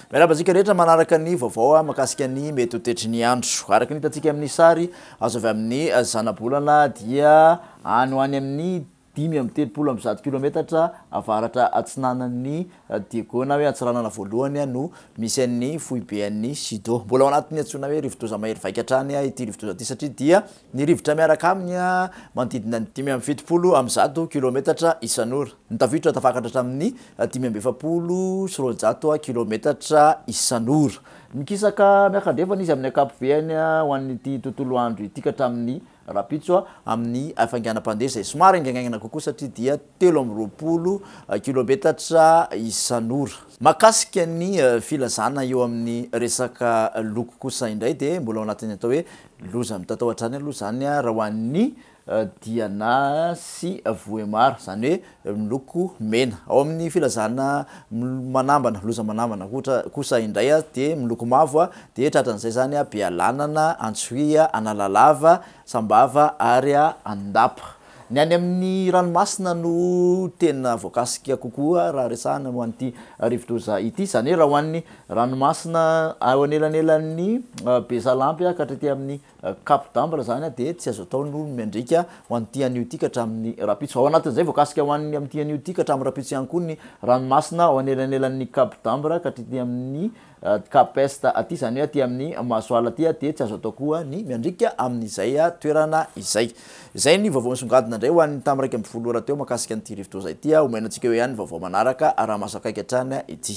Miarahaba antsika rehetra manaraka ny vaovao ah, makasika ny mety ho tetry ny andro. Araka ny hitantsika amin'ny sary azo avy amin'ny zanabolana dia any ho any amin'ny dimy amby telopolo amby zato kilometatra avaratra atsinanan'i Diego na hoe Antsiranana Voalohany no misy an'ny foibe an'i Sido. Mbola ao anatin'ny antsoina hoe rivodoza mahery vaika hatrany ity rivodoza ity satria dia ny rivotra miaraka aminy manodidina ny dimy amby fitopolo amby zato kilometatra isan'ora. Ny tafiotra tafakatra hatramin'ny dimy amby efapolo sy roanjato kilometatra isan'ora. Mikisaka miaka-andrefana izy amin'ny ankapobeny ho an'ity tontolo andro ity ka hatramin'ny Rahampitso a, amin'ny hafainganam-pandeha izay somary haingaingaina kokoa satria dia telo amby roapolo kilometatra isan'ora. Mahakasika ny filazana eo amin'ny resaka loko kosa indray dia mbola ao anatin'ny atao hoe loza mitatao hatrany aloha izany raha ho an'ny Diana sy Vohémar, izany hoe miloko mena. Ao amin'ny filazana manambana, loza manambana kosa indray dia miloko mavo dia tratran'izay izany Bealanana, Antsohihy, Analalava, Sambava ary Andapa. Ny any amin'ny ranomasina no tena voakasika kokoa raha resahana ho an'ity rivodoza ity. Izany hoe raha ho an'ny ranomasina eo anelanelan'ny Besalampy ka hatraty amin'ny Cap d'Ambre izany dia tsy azo atao ny ho miandriaka ho an'ity anio ity ka hatramin'ny rahampitso. Ao anatin'izay, voakasika ho an'ny amin'ity anio ity ka hatramin'ny rahampitso ihany koa ny ranomasina ao anelanelan'ny Cap d'Ambre ka hatr'ity amin'ny Cap Est aty, izany hoe aty amin'ny Masoala aty dia tsy azo atao koa ny miandriaka amin'izay toerana izay. Izay ny vaovao nisongadina indray ho an'ny tamin'ny iraika ambin'ny folo ora teo mahakasika an'ity rivodoza ity. Omena antsika eo ihany ny vaovao manaraka raha mahazo akaiky hatrany ity.